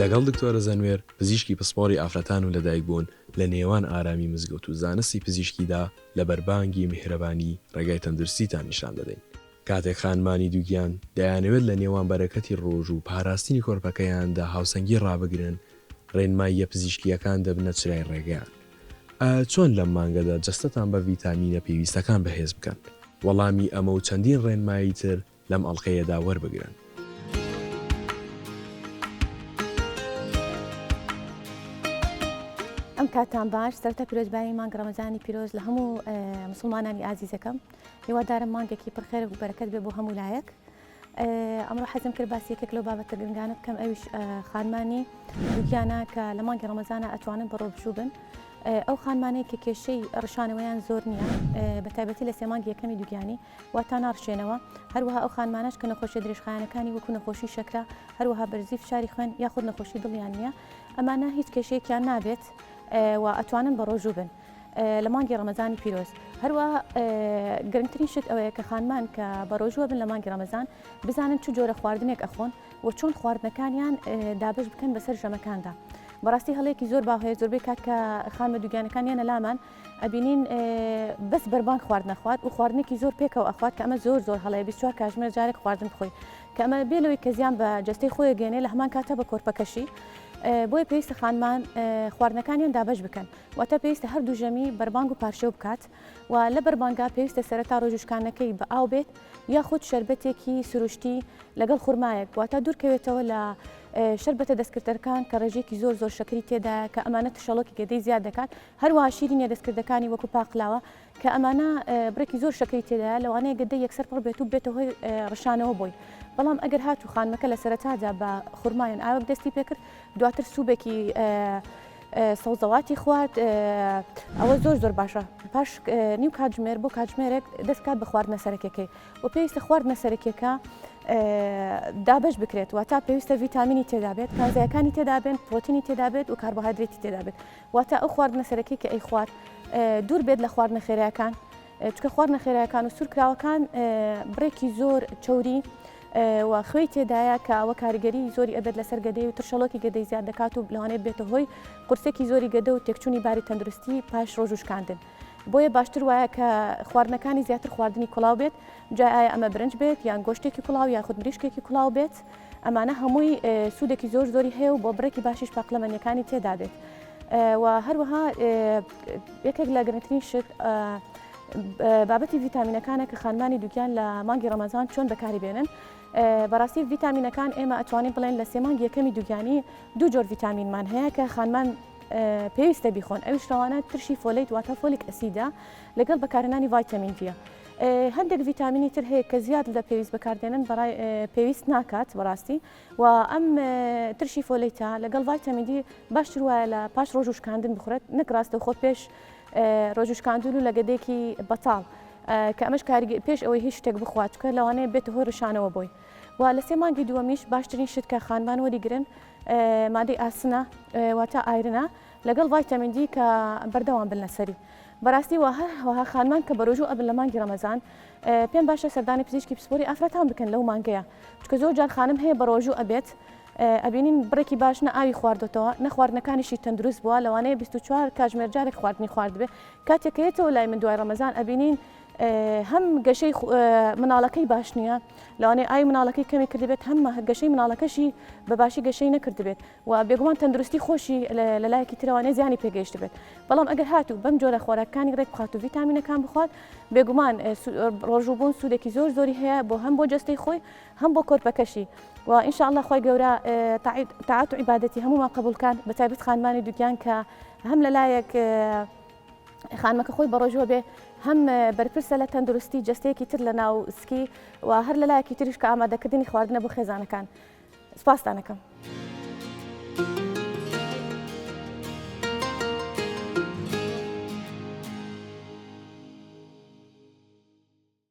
لەگەڵ دکتۆرە زەنوێر، پزیشکی پسپۆڕی ئافرەتان و لەدایکبوون، لە نێوان ئارامی مزگەوت و زانستی پزیشکیدا، لە بەربانگی میهرەبانی ڕێگای تەندروستیتان نیشان دەدەین. کاتێک خانمانی دووگیان دەیانەوێت لە نێوان بەرەکەتی ڕۆژ و پاراستنی کۆرپەکەیاندا هاوسەنگی ڕابگرن، ڕێنماییە پزیشکییەکان دەبنە چرای ڕێگەیان. ئایا چۆن لەم مانگەدا جەستەتان بە ڤیتامینە پێویستەکان بەهێز بکەن؟ وەڵامی ئەمە و چەندین ڕێنمایی تر لەم ئەڵقەیەدا وەربگرن. ئەم کاتتان باش، سەرەتا پیرۆزبایی مانگی ڕەمەزانی پیرۆز لە هەموو مسوڵمانانی ئازیزەکەم. هیوادارم مانگێکی پر خێر و بەرەکەت بێ بۆ هەموو لایەک ئەمڕۆ حەزم کرد باسی یەکێک لەو بابەتە گرنگانە بکەم ئەویش خانمانی دوکیانە کە لە مانگی ڕەمەزانە ئەتوانن بەڕۆ بچوو بن ئەو خانمانەیە کە کێشەی ڕشانەوەیان زۆر نییە بە تایبەتی لە سێمانگی یەکەمی دوگیانی واتا ناڕشێنەوە هەروەها ئەو خانمانش کە نەخۆشی درێژخایەنەکانی وەکو نەخۆشی شەکرا هەروەها بەرزی فشاری خوێن یاخود نەخۆشی دڵیان نییە ئەمانە هیچ کێشەیەکیان نابێت و ئەتوانن بە ڕۆژوو بن لە مانگی ڕەمەزانی پیرۆز هەروە گرنگترین شت ئەوەیە کە خانمان کە بەڕۆژوە بن لە مانگی ڕەمەزان بزانن چ جۆرە خواردنێک ئەخۆن و چۆن خواردنەکانیان دابش بکەن بەسەر ژەمەکاندا. بەڕاستی هەڵێکی زۆر باوهەیە زۆربەی کات کە خانمە دوگیانەکان یەنە لامان ئەبینین بەس بەربان خوارد نەخوات و خواردنێکی زۆر پێکەوە ئەخوات کە ئەمە زۆر زۆر هەڵەیە 24 کاژمێر جارێک خواردن بخۆی کە ئەمە بێ لەوەی کە زیان بە جەستەی خۆی گەێنێ لە هەمان کاتە بە کۆرپەکەشی بۆی پێویستە خانمان خواردنەکانیان دابش بکەن واتە پێویستە هەردوو ژەمی بەربانگ و پارشێو بکات و لە بەربانگا پێویستە سەرەتا ڕۆژ و شکانەکەی بە ئاو بێت یاخود شەربەتێکی سروشتی لەگەڵ خورمایەک واتە دوورکەوێتەوە لە شەربەتە دەستکردەکان کە ڕێژێکی زۆر زۆر شەکری تێدایە کە ئەمانە تشەڵۆکی گەدەی زیاد دەکات هەروە شیرینە دەستکردەکانی وەکو پاقلاوە کە ئەمانە بڕێکی زۆر شەکری تێدایە لەوانەیە گەدەی یەکسەر پڕ بێت و بێتە هۆی ڕشانەوە بۆی بەڵام ئەگەر هات و خانمەکە لە سەرەتادا بە خورمایان ئاوک دەستی پێکرد دواتر سوبێکی سەوزەواتی خوارد ئەوە زۆر زۆر باشە پاش نیو کاتژمێر بۆ کاتژمێرێک دەستکات بە خواردنە سەرەکەکەی و پێویستە خواردنە سەرەکیەکە دابش بکرێت و تا پێویستە ڤیتامینی تێدابێت کازایەکانی تێدابێن پرۆتینی تێدابێت و کاربهادرێتی تێدابێت واتە ئەو خواردنە سەرەکی کە ئەیخوات دوور بێت لە خواردنە خێراکان چکە خواردنە خێراکان و سوورکراوەکان بڕێکی زۆر چوری و خوێی تێدایە کە ئەوە کاریگەری زۆری ئەبێت لەسەر گەدەی و ترشەڵۆکی گەدەی زیاد دەکات و لەوانێت بێتە هۆی قورسێکی زۆری گەدە و تێکچوونی باری تەندروستی پاش ڕۆژوشکاندن. بۆیە باشتر وایە کە خواردنەکانی زیاتر خواردنی کوڵاو بێت جا ئایا ئەمە برنج بێت یان گۆشتێکی کوڵاو یا خود مریشکێکی کوڵاو بێت ئەمانە هەمووی سوودێکی زۆر زۆری هەیە و بۆ بڕێکی باشیش پاقلەمەنیەکانی تێدا بێت و هەروەها یەکێک لە گرنگترین شت بابەتی ڤیتامینەکانە کە خانمانی دووکیان لە مانگی ڕەمەزان چۆن بەکاری بێنن بەڕاستی ڤیتامینەکان ئێمە ئەتوانین بڵێن لە سێمانگ یەکەمی دوگیانی دوو جۆر ڤیتامینمان هەیە کە خانمان پێویستە بیخۆن ئەویش ڕەوانە ترشی فۆلیت واتە فۆلیک ئەسیدە لەگەڵ بەکارهێنانی ڤایتامین دیە هەندێک ڤیتامینی تر هەیە کە زیاد لە پێویست بەکاردێنن بەڕای پێویست ناکات بەڕاستی و ئەم ترشی فۆلیتا لەگەڵ ڤایتامین دی باشتر وایە لە پاش ڕۆژوشکاندن بخورێت نەک ڕاستە خۆ پێش ڕۆژوشکاندون و لەگەدێکی بەتاڵ کە ئەمەش کارگە پێش ئەوەی هیچ شتێک بخواتکە لەوانەیە بێت هۆ ڕشانەوە بۆی و لە سێ مانگی دووەمیش باشترین شتکە خانمان وەریگرن و مادەی ئاسنە واتا ئایرنە لەگەڵ ڤایتامین دی کە بەردەوام بن لەسەری بەراستی وەها خانمان کە بەرۆژوو ئەبن لە مانگی ڕەمەزان پێم باشە سەردانی پزیشکی پسپۆری ئافرەتان بکەن لەو مانگەیە چکە زۆر جار خانم هەیە بەڕۆژوو ئەبێت ئەبینین بڕێکی باش نە ئاوی خواردەتەوە نەخواردنەکانیشی تەندروست بووە لەوانەیە 24 کاژمێر جارێک خواردنی خواردبێ کاتێکەیەتەوە لای من دوای ڕەمەزان ئەبینین هەم گەشەی مناڵەکەی باش نییە لەوانەیە ئای مناڵەکەی کەمی کردبێت هەم گەشەی مناڵەکەشی بە باشی گەشەی نەکردبێت و بێگومان تەندروستی خۆشی لە لایەکی ترەوانێ زیانی پێگەیشت بێت بەڵام ئەگەر هاتوو بەم جۆرە خۆراکانی ڕێک بخات و ڤیتامینەکان بخوات بێگومان ڕۆژوبوون سوودێکی زۆر زۆری هەیە بۆ هەم بۆ جەستەی خۆی هەم بۆ کۆرپەکەشی و ئینشاءله خۆی گەورە تاعات و عیباەتی هەمومان قبولکان بە تایبەت خانمانی دوگیان کە هەم لە لایەک خانمەکە خۆی بەڕۆژوە بێ هەم بەرپرسە لە تەندروستی جستەیەکی تر لە ناو سکی و هەر لە لایەکی تریش کە ئامادەکردنی خواردنە بۆ خێزانەکان سپاستانەکەم.